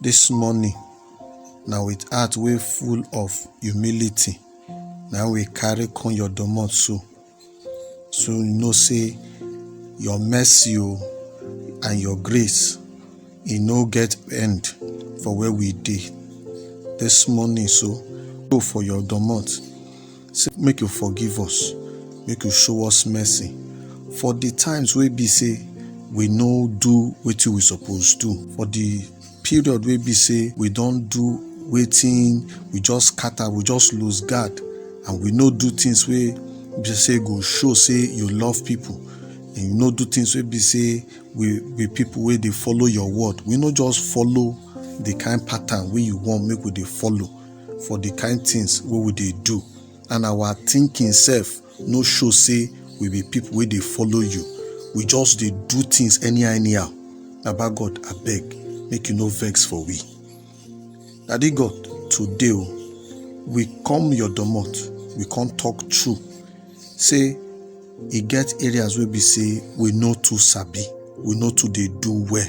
This morning, na with heart wey full of humility na we carry come your domot so. So you know say your mercy o and your grace e no get end for where we dey. This morning so, go for your domot. Say make you forgive us, make you show us mercy for the times wey be say we no do wetin we suppose do, for the period wey be say we don do wetin we just scatter, we just lose guard and we no do things wey be say go show say you love people and you no do things wey be say we be people wey dey follow your word. We no just follow the kind pattern wey you want make we dey follow. for the kind things wey we dey do and our thinking sef no show say we be people wey dey follow you we just dey do things anyhow anyhow baba god abeg make you no vex for we daddy god today o we come your domot we come talk true say e get areas wey be say we no too sabi we no too dey do well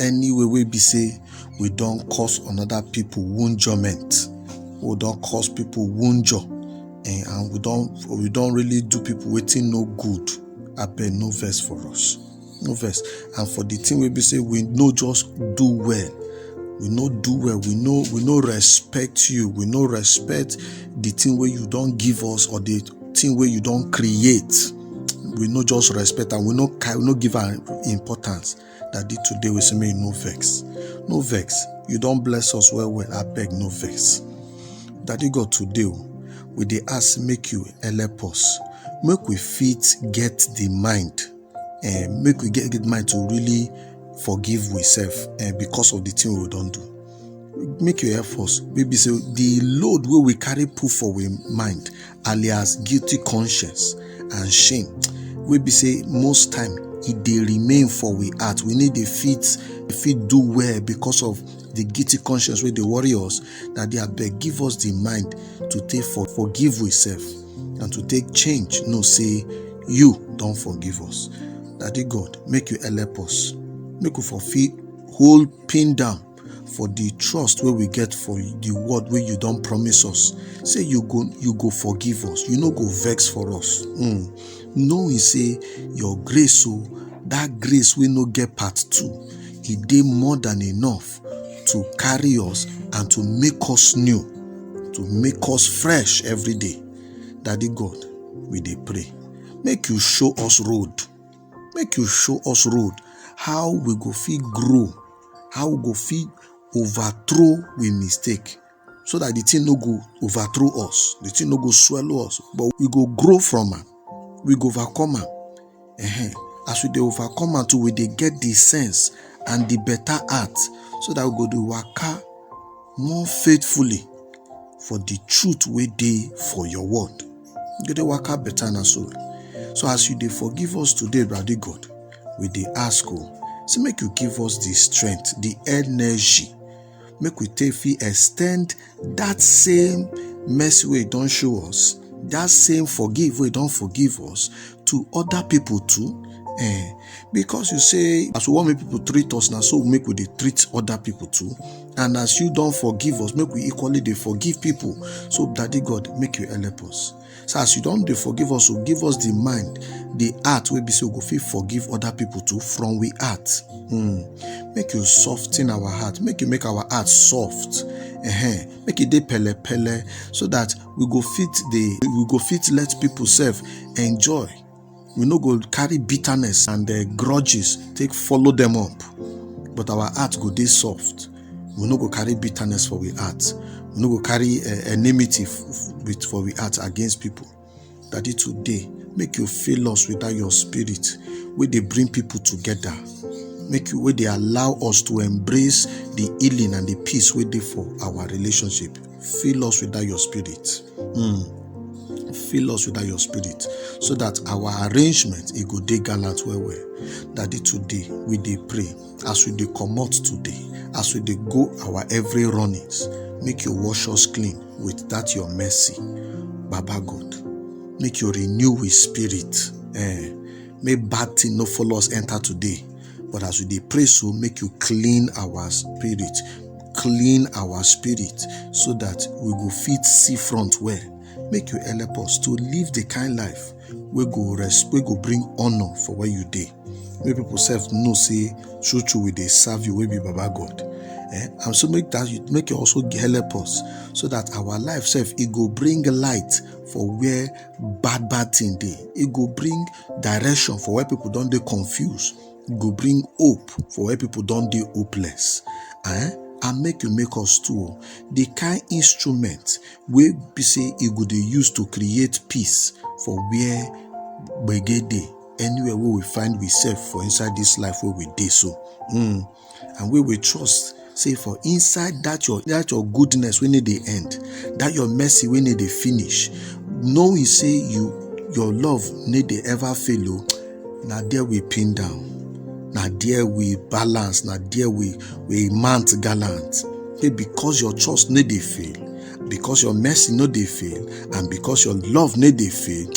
any way wey be say we don cause another people woundjurment we don cause people woundjur eh, and we don we don really do people wetin no good abeg no vex for us no vex and for the thing wey be say we no just do well we no do well we no we no respect you we no respect the thing wey you don give us or the thing wey you don create we no just respect am we no ca- we no give am importance Daddy, today we say make you no vex. No vex. You don bless us well well. I beg no vex. Daddy God, today o, we dey ask make you help us. Make we fit get the mind. Eh, make we get the mind to really forgive ourselves eh, because of the thing we don do. make you help us wey be say the load wey we carry put for we mind alias guilty conscience and shame wey be say most time e dey remain for we heart we need dey fit fit do well because of the guilty conscience wey dey worry us that dey abeg give us the mind to take for forgive we self and to take change know say you don forgive us daddy god make you help us make we for fit hold pin down for the trust wey we get for the word wey you don promise us say you go you go forgive us you no go vex for us mm. knowing say your grace o that grace wey no get part two e dey more than enough to carry us and to make us new to make us fresh every day daddy god we dey pray make you show us road make you show us road how we go fit grow how we go fit overthrow we mistake so that the thing no go overthrow us the thing no go swallow us but we go grow from am we go overcome am uh-huh. as we dey overcome am too we dey get the sense and the better heart so that we go dey waka more faithfully for the truth wey dey for your word You dey waka better na so. So as you dey forgive us today, Daddy God, we dey ask oh, say make you give us the strength, the energy, make we take fit extend that same mercy wey you don show us, that same forgive wey you don forgive us to other people too. Eh, because you say as we wan make people treat us, na so make we dey treat other people too. And as you don't forgive us, make we equally they forgive people. So, Daddy God, make you help us. So as you don't they forgive us, so give us the mind, the heart will be so go feel forgive other people too from we heart. Hmm. Make you soften our heart, make you make our heart soft. Uh-huh. Make it de pele pele so that we go fit the we go fit let people serve enjoy we no go carry bitterness and uh, grudges take follow them up but our heart go dey soft we no go carry bitterness for we heart we no go carry uh, enmity with for we heart against people daddy today make you fill us with that your spirit wey dey bring people together make you wey dey allow us to embrace the healing and the peace wey dey for our relationship Fill us with that your spirit. Mm. Fill us with that your spirit so that our arrangement it go day gallant where we that day today we day pray as we day come out today as we day go our every runnings make you wash us clean with that your mercy baba god make you renew with spirit eh, make bad thing no follow us enter today But as we dey pray so, make you clean our spirit, clean our spirit so that we go fit see front well. Make you help us to live the kind life we go rest, we go bring honor for where you dey. Make people self know say true true we dey serve you, we be Baba God. Eh? And so make that you make you also help us so that our life self it go bring light for where bad bad thing dey. It go bring direction for where people don dey confused e go bring hope for where people don dey hopeless eh and make you make us too o the kind instrument wey be say e go dey use to create peace for where gbege dey anywhere wey we find we sef for inside this life wey we dey so mm. and we will trust say for inside that your that your goodness we need the end that your mercy we need the finish knowing say you your love need the ever fail o oh, na there we pin down na there we balance na there we we mount gallant say because your trust need the fail because your mercy no dey fail and because your love no dey fail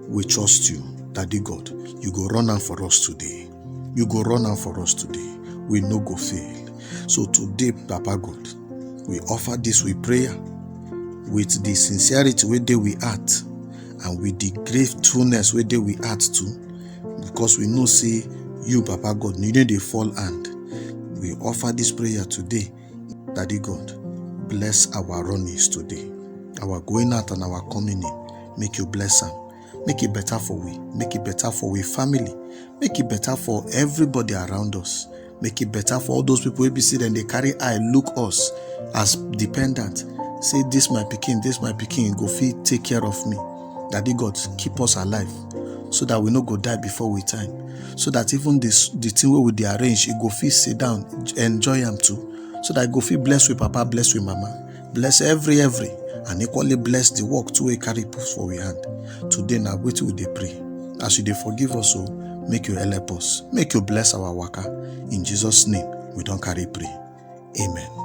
we trust you daddy god you go run am for us today You go run am for us today. We no go fail. So today, Papa God, we offer this we prayer with the sincerity wey dey we heart and with the gratefulness wey dey we heart too because we know say you papa god you no dey fall hand we offer this prayer today daddy god bless our runnings today our going out and our coming in make you bless am make e better for we make e better for we family make e better for everybody around us make e better for all those people wey be say dem dey carry eye look us as dependent say this my pikin this my pikin go fit take care of me daddy god keep us alive so that we no go die before we time so that even this the thing wey we dey arrange e go fit sit down enjoy am too so that e go fit bless we papa bless we mama bless every every and equally bless the work to a carry put for we hand today now wait till they pray as you they forgive us so oh, make you help us make you bless our worker in jesus name we don't carry pray amen